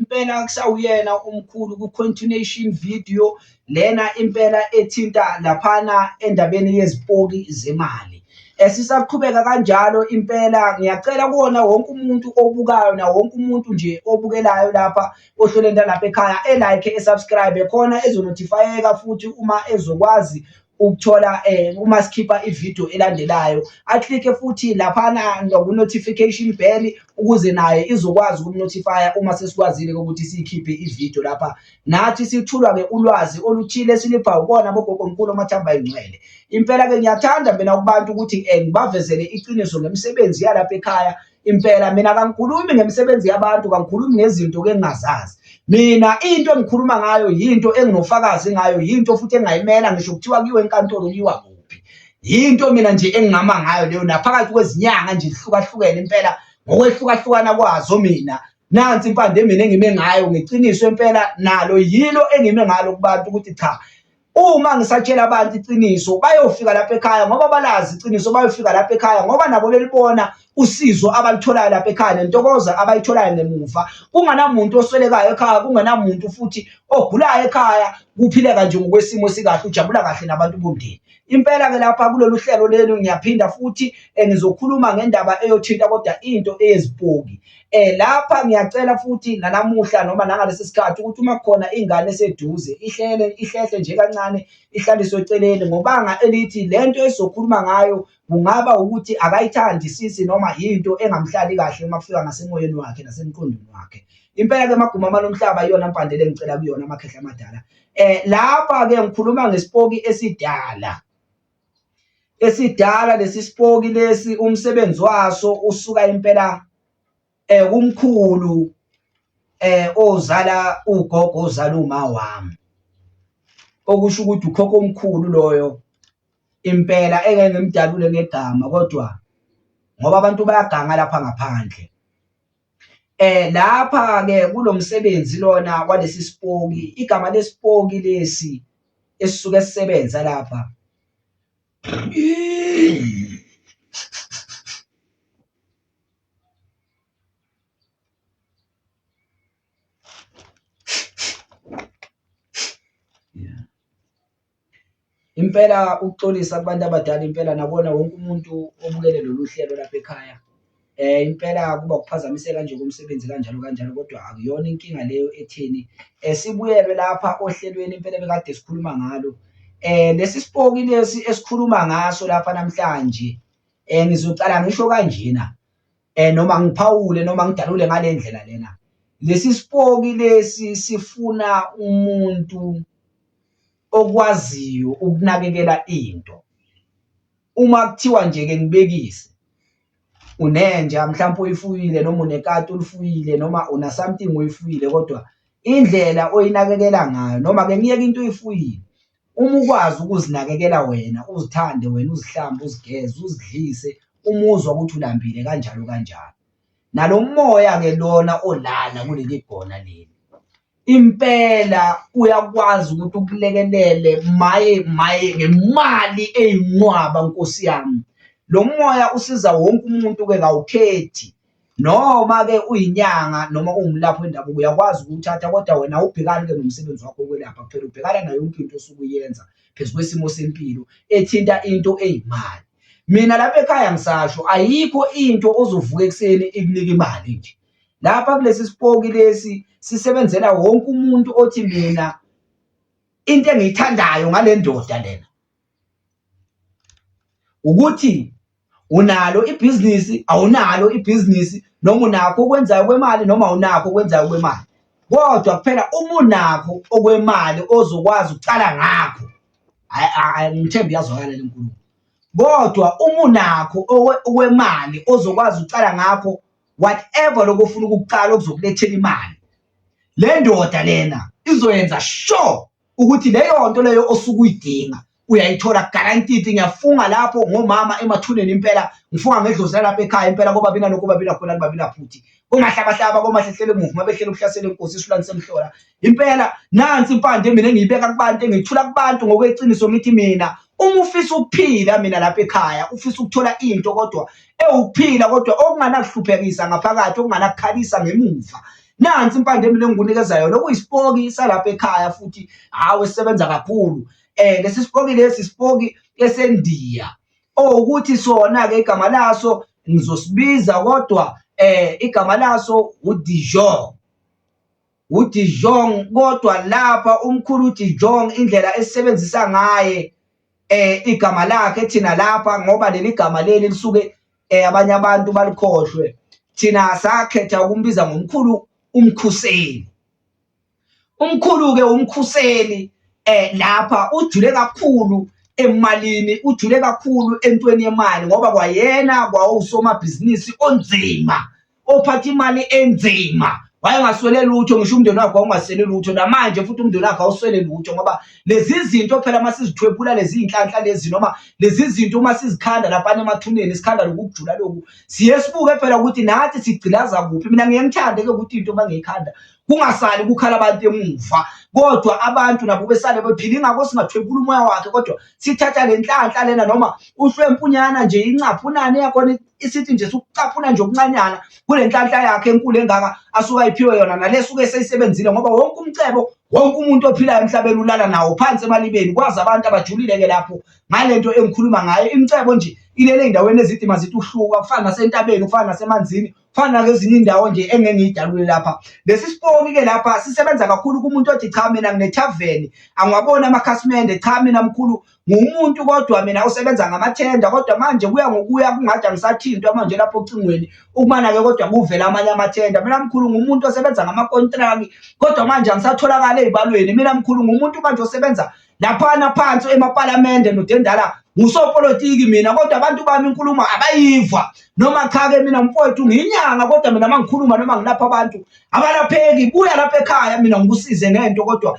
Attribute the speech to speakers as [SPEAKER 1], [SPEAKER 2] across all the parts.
[SPEAKER 1] impela kusawuyena umkhulu ku-continuation video lena impela ethinta laphana endabeni yezipoki zemali esisaqhubeka kanjalo impela ngiyacela kuwona wonke umuntu obukayo na wonke umuntu nje obukelayo lapha ohlelweni lalapha ekhaya elike esubscribe khona ezonotifayeka futhi uma ezokwazi ukuthola eh uma sikhipha ivideo elandelayo aclick futhi lapha na ku notification bell ukuze naye izokwazi ukumnotifya uma sesikwazile ukuthi siyikhiphe ivideo lapha nathi sithulwa ke ulwazi oluthile silipha ukona bogogo mkhulu omathamba ingcwele impela ke ngiyathanda mina kubantu ukuthi eh, ngibavezele iqiniso ngemisebenzi yalapha ekhaya impela mina kangikhulumi ngemisebenzi yabantu kangikhulumi ngezinto ke ngingazazi mina into engikhuluma ngayo yinto enginofakazi ngayo yinto futhi engayimela ngisho kuthiwa kiwe enkantolo kuyiwa kuphi yinto mina nje engingama ngayo leyo naphakathi kwezinyanga nje zihlukahlukene impela ngokwehlukahlukana kwazo mina nansi impande mina engime ngayo ngeqiniso impela nalo yilo engime ngalo kubantu ukuthi cha uma ngisatshela abantu iqiniso bayofika lapha ekhaya ngoba balazi iqiniso bayofika lapha ekhaya ngoba nabo belibona usizo abalitholayo lapha ekhaya nentokozo abayitholayo ngemuva kunganamuntu oswelekayo ekhaya kunganamuntu futhi ogulayo ekhaya kuphileka nje ngokwesimo sikahle ujabula kahle nabantu bomndeni impela ke lapha kulolu hlelo lenu ngiyaphinda futhi eh, ngizokhuluma ngendaba eyothinta kodwa into eyezipoki Eh lapha ngiyacela futhi nanamuhla noma nangalesi sikhathi ukuthi uma khona ingane eseduze ihlele ihlehle nje kancane ihlaliswe eceleni ngobanga elithi lento esizokhuluma ngayo kungaba ukuthi akayithandi sisi noma yinto engamhlali kahle uma kufika ngasemoyeni wakhe nasemqondweni wakhe impela ke maguma manomhlaba iyona mpandele engicela kuyona amakhehla amadala eh lapha ke ngikhuluma ngesipoki esidala esidala lesi sipoki lesi umsebenzi waso usuka impela eh kumkhulu eh ozala ugogo ozala uma wami okusho ukuthi ukhokho omkhulu loyo impela engeke ngimdalule ngegama kodwa ngoba abantu bayaganga lapha ngaphandle Eh lapha ke kulomsebenzi lona walesi sipoki igama lesipoki lesi esisuke sisebenza lapha Impela ukuxolisa kubantu abadala impela nakona wonke umuntu obukele lolu hlelo lapha ekhaya um impela kuba ukuphazamiseka nje komsebenzi kanjalo kanjalo kodwa akuyona inkinga leyo etheni um sibuyelwe lapha ohlelweni impela bekade sikhuluma ngalo um lesi sipoki lesi esikhuluma ngaso lapha namhlanje um ngizocala ngisho kanjena eh noma ngiphawule noma ngidalule ngale ndlela lena lesi sipoki lesi sifuna umuntu okwaziyo ukunakekela into uma kuthiwa nje ke ngibekise unenja mhlawumbe uyifuyile noma unekati ulifuyile noma una something uyifuyile kodwa indlela oyinakekela ngayo noma ke ngiyeke into oyifuyile Uma ukwazi ukuzinakekela wena, uzithande wena, uzihlambe, uzigeze, uzidlise, umuzwa ukuthi ulambile kanjalo kanjalo. Nalo moya-ke lona olala kuleli gona leli, impela uyakwazi ukuthi ukulekelele maye maye ngemali eyinqwaba nkosi yami. Lo moya usiza wonke umuntu-ke kawukhethi Noma-ke uyinyanga noma ungumlaphi wendabuko uyakwazi ukuwuthatha kodwa wena awubhekani-ke nomsebenzi wakho wokwelapha kuphela, ubhekana nayo yonke into osuke uyenza phezu kwesimo sempilo ethinta into eyimali. Mina lapha ekhaya ngisasho ayikho into ozovuka ekuseni ikunika imali nje. Lapha kulesi sipoki lesi sisebenzela wonke umuntu othi mina into engiyithandayo ngale ndoda lena. ukuthi unalo ibhizinisi awunalo ibhizinisi noma unakho okwenzayo kwemali noma awunakho okwenzayo kwemali kodwa kuphela uma unakho okwemali ozokwazi ukucala ngakho ngithemba iyazwakala le nkulumo kodwa uma unakho okwemali ozokwazi ukucala ngakho whatever lokho ofuna ukukucala okuzokulethela imali le ndoda lena izoyenza sure ukuthi leyo nto leyo osuke uyidinga uyayithola guaranteed ngiyafunga lapho ngomama emathuneni impela ngifunga ngedlozi lalapha ekhaya impela koba bina nokuba bina khona liba bina phuthi komahlabahlaba komahlehlele emuva uma behlela ukuhlasela inkosi isulani semhlola impela nansi impande mina engiyibeka kubantu engiyithula kubantu ngokweqiniso ngithi mina uma ufisa ukuphila mina lapha ekhaya ufisa ukuthola into kodwa ewukuphila kodwa okunganakihluphekisa ngaphakathi okunganakukhalisa ngemuva nansi impande mina engikunikeza yona okuyisipoki salapha ekhaya futhi hawe sebenza kakhulu eh lesi sipoki lesi sipoki esendiya owukuthi sona ke igama laso ngizosibiza kodwa eh igama laso uDijon uDijon kodwa lapha umkhulu uDijon indlela esebenzisa ngaye eh igama lakhe thina lapha ngoba leli gama leli lisuke eh abanye abantu balikhohlwe thina sakhetha ukumbiza ngomkhulu umkhuseli umkhulu ke umkhuseli eh lapha ujule kakhulu emalini ujule kakhulu entweni yemali ngoba kwayena kwawusomabhizinisi onzima ophatha imali enzima wayengaswele lutho ngisho umndeni wakhe wawungaswele lutho namanje futhi umndeni wakhe awuswele lutho ngoba lezi zinto phela uma sizithwebula lezi iy'nhlanhla lezi noma lezi zinto uma sizikhanda laphana emathuneni sikhanda lokhu kujula lokhu siye sibuke phela ukuthi nathi sigcilaza kuphi mina ngiye ngithande-ke ukuthi into uma ngiyikhanda kungasali kukhala abantu emuva kodwa abantu nabo besale bephila ingakho singathwebula umoya wakhe kodwa sithatha le nhlanhla lena noma uhlwempunyana nje incaphu unani yakhona isithi nje sukucaphuna nje okuncanyana kule nhlanhla yakhe enkulu engaka asuke ayiphiwe yona nale suke seyisebenzile ngoba wonke umcebo wonke umuntu ophilayo emhlabeni ulala nawo phansi emalibeni kwazi abantu abajulile-ke lapho ngale nto engikhuluma ngayo imcebo nje ilele ey'ndaweni ezidima zithi uhluka kufana nasentabeni kufana nasemanzini kufana nakezinye iy'ndawo nje engeke ngiyidalule lapha lesi siponi-ke lapha sisebenza kakhulu kumuntu othi cha mina nginethaveni angiwaboni amakhasimende cha mina mkhulu ngumuntu kodwa mina osebenza ngamathenda kodwa manje kuya ngokuya kungathi angisathintwa manje lapho ocingweni ukumana-ke kodwa kuvela amanye amathenda mina mkhulu ngumuntu osebenza ngamakontraki kodwa manje angisatholakali ey'balweni mina mkhulu ngumuntu manje osebenza laphana phansi emapalamende nodendala ngusopolitiki mina kodwa abantu bami inkulumo abayiva noma cha-ke mina mfowethu ngiyinyanga kodwa mina uma ngikhuluma noma ngilapha abantu abalapheki buya lapha ekhaya mina ngikusize ngento kodwa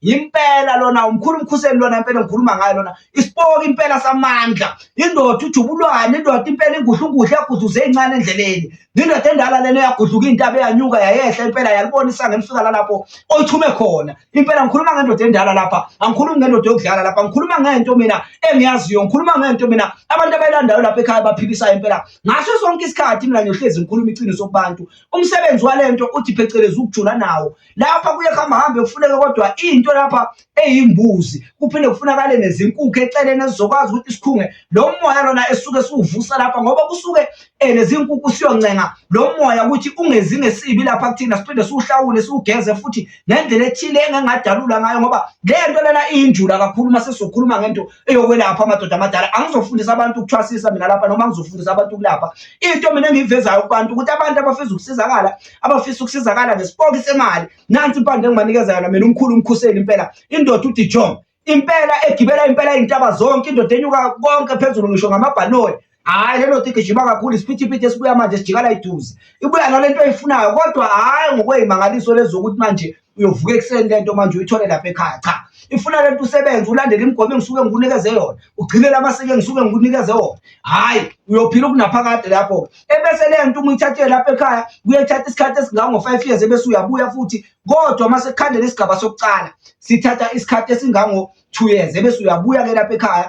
[SPEAKER 1] impela lona umkhulu umkhuseli lona impela ngikhuluma ngayo lona isipoki impela samandla indoda ujubulwane indoda impela ingudlunguhle yaguduze incane endleleni indoda endala lena yagudluka intaba yanyuka yayehla impela yalibonisa ngemfika lalapho oyithume khona impela ngikhuluma ngendoda endala lapha angikhulumi ngendoda yokudlala lapha ngikhuluma ngento mina engiyaziyo ngikhuluma ngento mina abantu abayilandayo lapha ekhaya baphikisayo impela ngaso sonke isikhathi mina ngiyohlezi ngikhuluma iqiniso kubantu umsebenzi walento uthi phecelezi ukujula nawo lapha kuye kuhambahambe kufuneke kodwa into lapha eyimbuzi kuphinde kufunakale nezinkukhu eceleni ezizokwazi ukuthi sikhunge lo moya lona esuke siwuvusa lapha ngoba kusuke um nezinkukhu siyoncenga lo moya ukuthi ungenzi ngesibi lapha kuthina siphinde siwuhlawule siwugeze futhi ngendlela ethile engengadalula ngayo ngoba le nto lena iyinjula kakhulu uma sesizokhuluma ngento eyokwelapha amadoda amadala angizofundisa abantu ukuthwasisa mina lapha noma ngizofundisa abantu ukulapha into mina engiyivezayo kubantu ukuthi abantu abafisa ukusizakala abafisa ukusizakala ngesipoki semali nansi impande engibanikeza yona mina umkhulu umkhuseli impela indoda udijon impela egibela impela iy'ntaba zonke indoda enyuka konke phezulu ngisho ngamabhaloni hhayi le ndoda igijima kakhulu isiphithiphithi esibuya manje sijikala iduze ibuya nale nto eyifunayo kodwa hhayi ngokweyimangaliso lezokuthi manje uyovuka ekuseni lento manje uyithole lapha ekhaya cha ifuna lento usebenze ulandele imigomo engisuke ngikunikeze yona ugcinele amasiko engisuke ngikunikeze wona hhayi uyophila ukunaphakade lapho ebese le nto uma uyithathile lapha ekhaya kuyethatha isikhathi esingango-five years ebese uyabuya futhi kodwa uma sekukhandela isigaba sokucala sithatha isikhathi esingango-two years ebese uyabuya-ke lapha ekhaya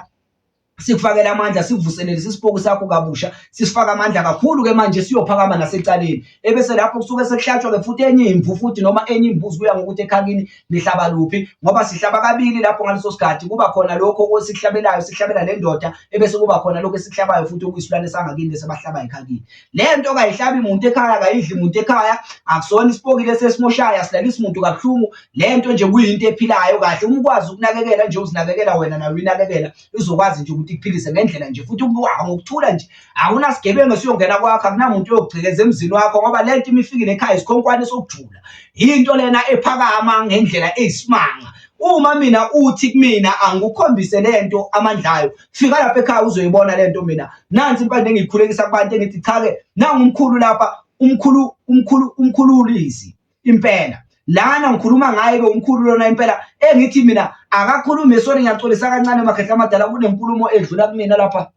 [SPEAKER 1] sikufakela amandla sivuselele sisipoki sakho kabusha sisifaka amandla kakhulu ke manje siyophakama nasecaleni ebese lapho kusuke sekuhlatshwa ke futhi enye imvu futhi noma enye imbuzi kuya ngokuthi ekhakini nihlaba luphi ngoba sihlaba kabili lapho ngaleso sikhathi kuba khona lokho okwesihlabelayo sihlabela le ndoda ebese kuba khona lokho esihlabayo futhi okuyisilwane sangakini bese bahlaba ekhakini le nto kayihlabi muntu ekhaya kayidli muntu ekhaya akusona isipokile sesimoshayo asilalisi muntu kabuhlungu le nto nje kuyinto ephilayo kahle uma ukwazi ukunakekela nje uzinakekela wena nayo uyinakekela izokwazi nje ukuthi ikuphilise ngendlela nje futhi ngokuthula nje akunasigebengu esiyongena kwakho akunamuntu uyokugcekeza emzini wakho ngoba le nto imifikile ekhaya isikhonkwane sokujula yinto lena ephakama ngendlela eyisimanga uma mina uthi kumina angikukhombise lento amandla ayo fika lapha ekhaya uzoyibona lento mina nansi impande engiyikhulekisa kubantu engithi cha ke nangu umkhulu lapha umkhulu umkhulu umkhulu ulizi impela lana ngikhuluma ngaye ke umkhulu lona impela engithi mina akakhulume sori ngiyaxolisa kancane makhehla amadala kunenkulumo edlula kumina lapha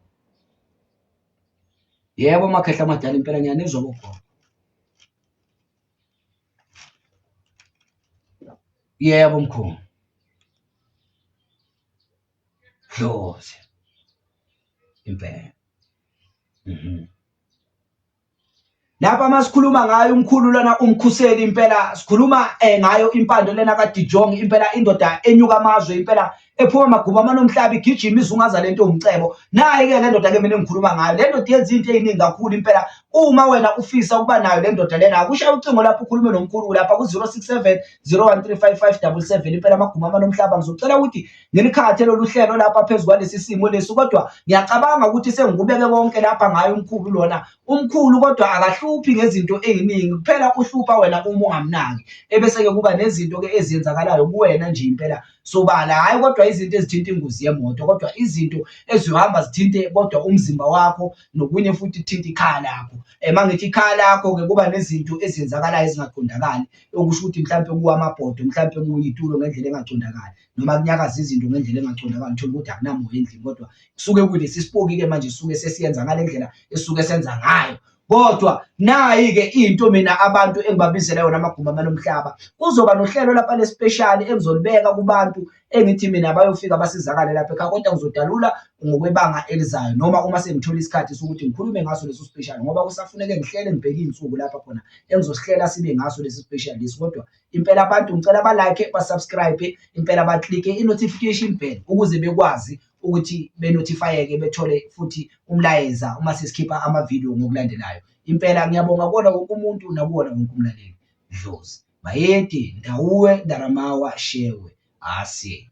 [SPEAKER 1] yebo makhehla amadala impela ngiyanizwa bogogo yebo mkhulu Dlozi impela mhm Lapha masikhuluma ngayo umkhulu lana umkhuseli impela sikhuluma eh, ngayo impando lena kaDijong impela indoda enyuka amazwe impela ephuma amaguba amanomhlaba igijima izungaza lento umcebo naye ke le ndoda ke mina engikhuluma ngayo le ndoda yenza into eziningi kakhulu impela uma wena ufisa ukuba nayo le ndoda lena akushaye ucingo lapho ukhulume nomkhulu lapha ku-067 0135 577 impela amaguba amanomhlaba ngizocela ukuthi ngilikhathe lolu hlelo lapha phezu kwalesi simo lesi kodwa ngiyacabanga ukuthi sengikubeke konke lapha ngaye umkhulu lona umkhulu kodwa akahluphi ngezinto eziningi kuphela uhlupha wena uma ungamnaki ebese-ke kuba nezinto-ke eziyenzakalayo kuwena nje impela sobala hhayi kodwa izinto ezithinta ingozi yemoto kodwa izinto eziyohamba zithinte kodwa umzimba wakho nokunye futhi kuthinta ikhaya lakho uma eh, ngithi ikhaya lakho-ke kuba nezinto eziyenzakalayo ezingaqondakali okusho ukuthi mhlawumpe kuwa amabhodo mhlawumpe kuwa itulo ngendlela engaqondakali noma kunyakaza izinto ngendlela engaqondakali uthole ukuthi akunamoya endlini kodwa kusuke kulesi sipoki-ke manje suke sesiyenza ngale ndlela esuke senza ngayo kodwa nayi-ke into mina abantu engibabizela yona amagumba amalomhlaba kuzoba nohlelo lapha lespeshali engizolibeka kubantu engithi mina bayofika basizakale lapha ekhaya kodwa ngizodalula ngokwebanga elizayo noma uma sengithola isikhathi sokuthi ngikhulume ngaso leso special ngoba kusafuneke ngihlele ngibheke iy'nsuku lapha khona engizosihlela sibe ngaso lesi special lesi kodwa impela abantu ngicela ba like ba subscribe impela ba click i notification bell ukuze bekwazi ukuthi be notifyeke bethole futhi umlayeza uma sesikhipha ama video ngokulandelayo impela ngiyabonga kona wonke umuntu nakuwona wonke umlaleli dlozi bayede ndawuwe ndaramawa shewe asye